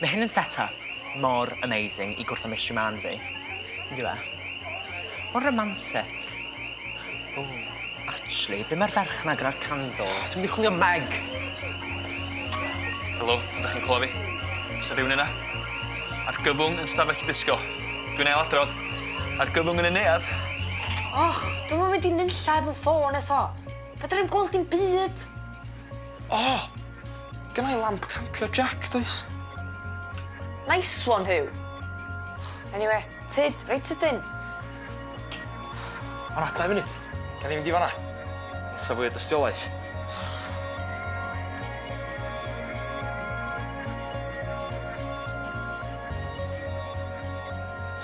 Ma' hyn yn set up mor amazing i gwrthod Mister Man fi. On'd yw e? Mor romantic. Ww, actually, be' ma'r ferch 'na gyda'r candles? Dwi myn' i chwilio am Meg. Helo, ydach chi'n clwa fi? O's 'na rywun yna? Argyfwng yn stafell disgo. Dwi'n ail adrodd. Argyfwng yn y neuadd. Och, dwi'm yn mynd i nunlla efo'm ffôn eto. Fedra i'm gweld dim byd. O! Gynna i lamp campio Jac, does? Nice one, Huw. Eniwe, tyd, reit sydyn. O na, dau funud. Gawn ni fynd i fan'na. Sa fwy o dystiolaeth.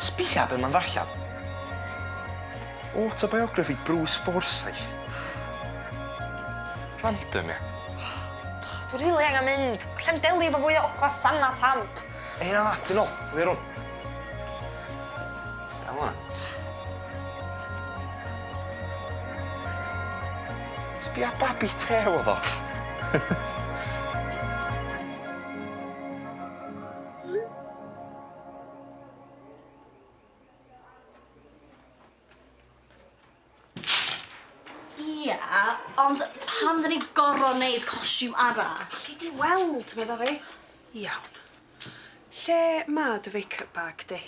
Sbia be' ma'n ddarllan. Autobiography Bruce Forsyth. Random ia? Och, dwi rili angan mynd. Allai'm delio efo fwy o ogla Sanna Tamp. Hei na, ti'n ol, dwi ar ol. Iawn wan. Sbia babi têl oedd o. Ie, ond pam dyn ni gor'o' neud costiwm arall? Gei di weld, medda fi. Iawn. Lle ma' dy fake-up bag di?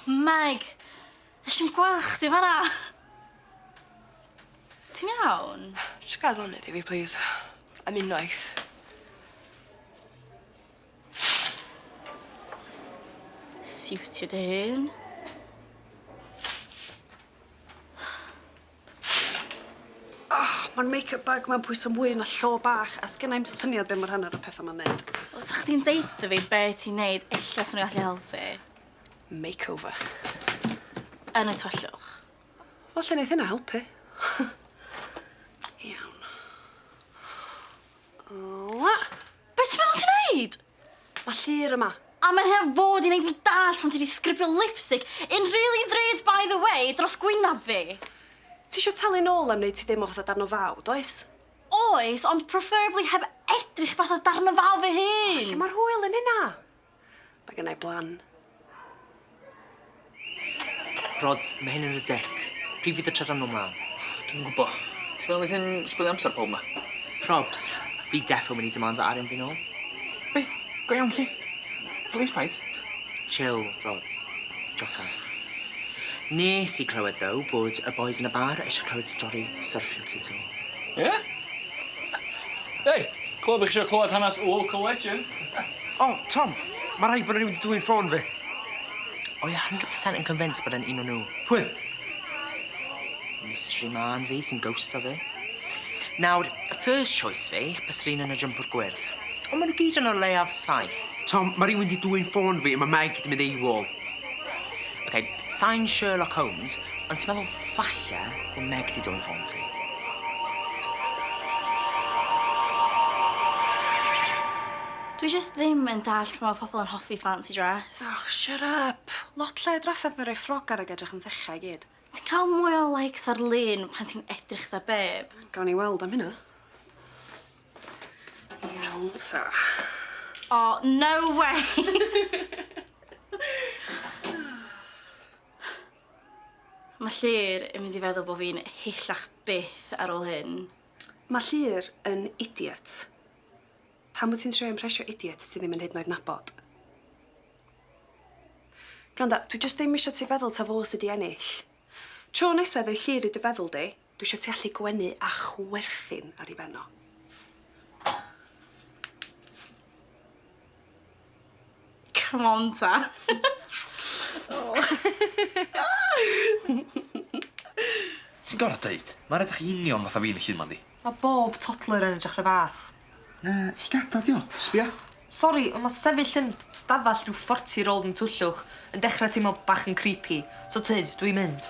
Meg! Nesh i'm gwel' chdi fan 'na. Ti'n iawn? Jys gad lonydd i fi plîs. Am unwaith. Siwtio dy hun. Oh, ma'r make up bag 'ma'n pwyso mwy na llo bach a sgenna i'm syniad be' ma' rhan o'r y petha 'ma'n neud. Wel sa chdi'n deutho fi be' ti'n neud ella swn i gallu helpu. makeover. Yn y tyllwch. Falle neith hynna helpu. Iawn. Ola. Be' ti'n meddwl ti'n neud? Ma' Llyr yma. A mae'n heb fod i neud fi dallt pan ti 'di sgripio lipstick in really ddrud by the way dros gwynab fi. Ti isio talu nôl am neud ti deimlo fatha darn o faw, does? Oes, ond preferably heb edrych fatha darn o faw fy hun! O, lle ma'r hwyl yn hynna? Mae gennai blan. Rod, mae hyn yn y dec. Pryd fydd y trydan nhw mlan? Dwi'm yn gwbo. Ti'n meddwl fydd hyn sbwylio amser pawb ma? Probs. Fi defo mynd i demandao arian fi nôl. Be? Go iawn 'lly? Plîs paid. Chill, Rod. Jocan. Nes i clywed ddow bod y bois yn y bar eisiau clywed stori syrffio ti 'to. Ie? Hei! Clywed bod chi isio clywed hanes local legend. O, Tom! Ma' rhaid bo' 'na rywun 'di dwyn ffôn fi. O ia hundred percent yn convinced bod e'n un o nw. Pwy? Mystery mân fi sy'n ghosto fi. Nawr, first choice fi byse'r un yn y jympwr gwyrdd. On' ma' nw gyd yn o leiaf saith. Tom, ma' rywun 'di dwyn ffôn fi a ma' Meg 'di mynd AWOL. Ok, sai'n Sherlock Holmes ond ti'n meddwl falle bo' Meg 'di dwyn ffôn ti? Dwi jyst ddim yn dallt pam ma' pobol yn hoffi fancy dress. Oh shut up! Lot lle i drafferth na roi ffrog ar ag edrych yn frecca i gyd. Ti'n ca'l mwy o likes ar lun pan ti'n edrych fatha beb. Gawn ni weld am hynna. Iawn ta. O no way! Ma' Llŷr yn mynd i feddwl bo' fi'n hillach byth ar ôl hyn. Ma' Llŷr yn idiot. Pam wyt ti'n trio impresio idiot ti ddim yn hyd yn oed nabod? Gwranda, dwi jyst ddim isio ti feddwl ta fo sy 'di ennill. Tro nesa i roi llur i dy feddwl di, dwi isio ti allu gwenu a chwerthin ar 'i ben o. Come on ta. Ti'n gor'o' deud? Ma'n edrych yn union fatha fi yn y llun 'ma yndi? Ma' bob toddler yn edrych 'r un fath. Na, llygada' 'di o. Sbia. Sori, on' ma' sefyll yn stafall rhyw forty year old yn twllwch yn dechre teimlo bach yn creepy, so tyd, dwi mynd.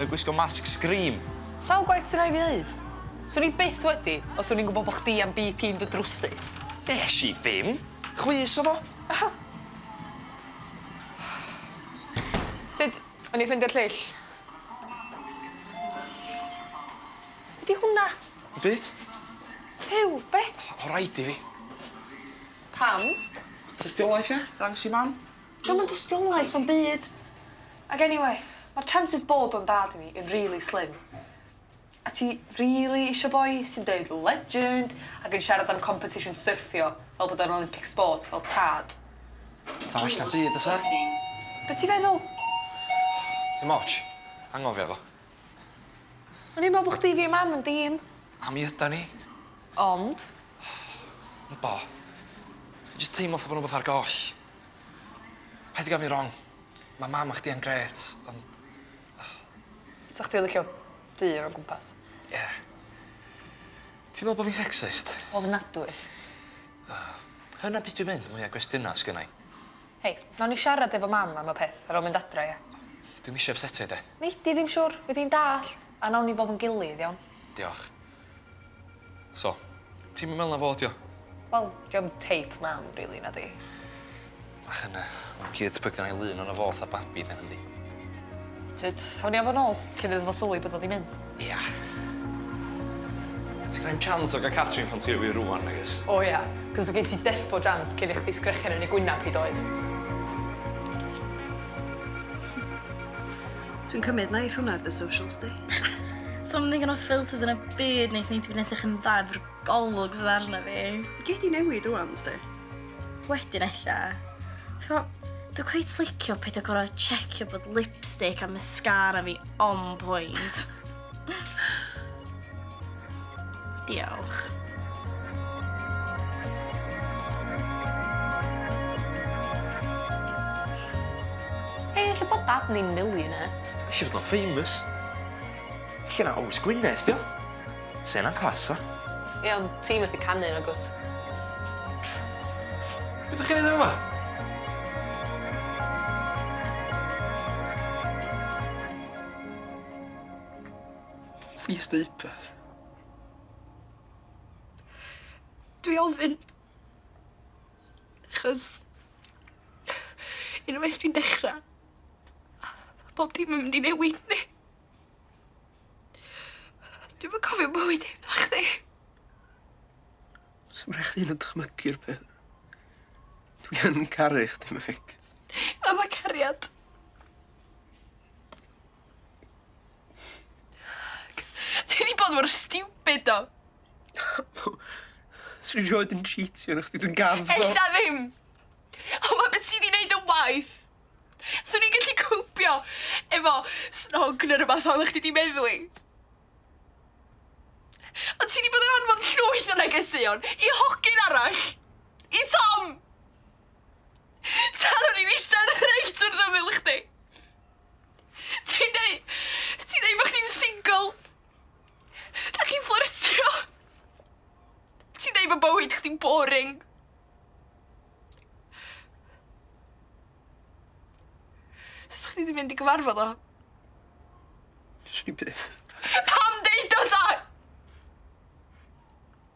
Yn gwisgo masg scream. Sawl gwaith sy rai' fi ddeud? Swn i byth wedi os o'n i'n gwbo bo' chdi am Bee Pee yn dy drwsus. Nesh i ddim! Chwys o'dd o. Tyd, o'n i ffeindio'r lleill. Be' 'di hwnna? Dim byd. Huw, be'? O' raid i fi. Pam? Tystiolaeth ia? Ddangos i mam? Dio'm yn dystiolaeth o'm byd. Ag anyway, ma'r chances bod o'n dad i mi yn rili slim. A ti rili isio boi sy'n deud legend ag yn siarad am competition syrffio fel bod o'n Olympic sport fel tad? Sa well na byd fysa? Be' ti feddwl? Dim otsh. Anghofio fo. O'n i'n me'wl bo' chdi fi a mam yn dîm. A mi ydan ni. Ond? Wbo. Fi jyst teimlo fatha bo' 'na wbath ar goll. Paid di ga'l fi rong. Ma' mam a chdi yn grêt ond o. Sa chdi licio dyn o gwmpas? Ie. Ti'n me'wl bo' fi'n sexist? Ofnadwy. O. Hwnna pys dwi'n mynd mwya gwestiyna sgynnai. Hei, nawn ni siarad efo mam am y peth ar ol mynd adra ia? Dwi'm isio ypsetio 'i de. Nei di ddim siŵr, fydd hi'n dallt, a nawn ni fofo'n gilydd iawn? Diolch. So, ti'm yn me'wl na fo 'di o? Wel, 'di o'm teip mam rili, na 'di? Bach yn yy awkward pry' gynna i lun ono fo fatha babi de nadi? Tyd, awn ni â fo nôl cyn iddo fo sylwi bod o 'di mynd. Ia. Sgenai'm chance o ga'l Catrin ffansïo fi rŵan nagoes? O ia, 'c'os o' gen ti defo chance cyn i chdi sgrechian yn ei gwynab hi doedd? Dwi'n cymryd na eith hwnna ar dy socials di. Something yn off filters yn y byd neith neud i fi'n edrych yn dda efo'r golwg sydd arna fi. Gei di newid ŵan, sti. Wedyn ella. Ti'n gwbo, dwi cweit licio peidio gor'o' checio bod lipstick a mascara fi on point. Diolch. Hei, lle bod dad ni'n millionaire? Isio fod o'n famous. Lle na Ows Gwynedd, dio? Se na'n class, a? Ie, ond ti methu canu, nag wyt? Be' dych chi'n neud yma? Plîs deu' rwbeth. Dwi ofyn achos unwaith ti'n dechra pob dim yn mynd i newid yndi? Dwi'm yn cofio bywyd heb chdi. Sdim rhai' chdi 'yd yn o'd dychmygu'r peth. Dwi yn caru chdi Meg. O'dd o cariad? Ti wedi bod mor stupid do. Swn i rioed yn cheatio arno chdi, dwi'n gaf ddo. Ella ddim! Ond ma' beth ti di neud yn waeth. Swn i'n gallu cwpio efo snog neu rwbath fel o'ch chdi di meddwi. Ond ti di bod yn anfon llwyth o negeseuon i hogyn arall! I Tom! Tan o'n i'n eistedd reit wrth ymyl chdi. Ti'n deu... Ti'n deu bod chdi'n single. Da chi'n fflyrtio. Ti'n deu bod bywyd chdi'n boring. Sa'ch chdi di mynd i gyfarfod o? Swn i byth. Pam deud o ta?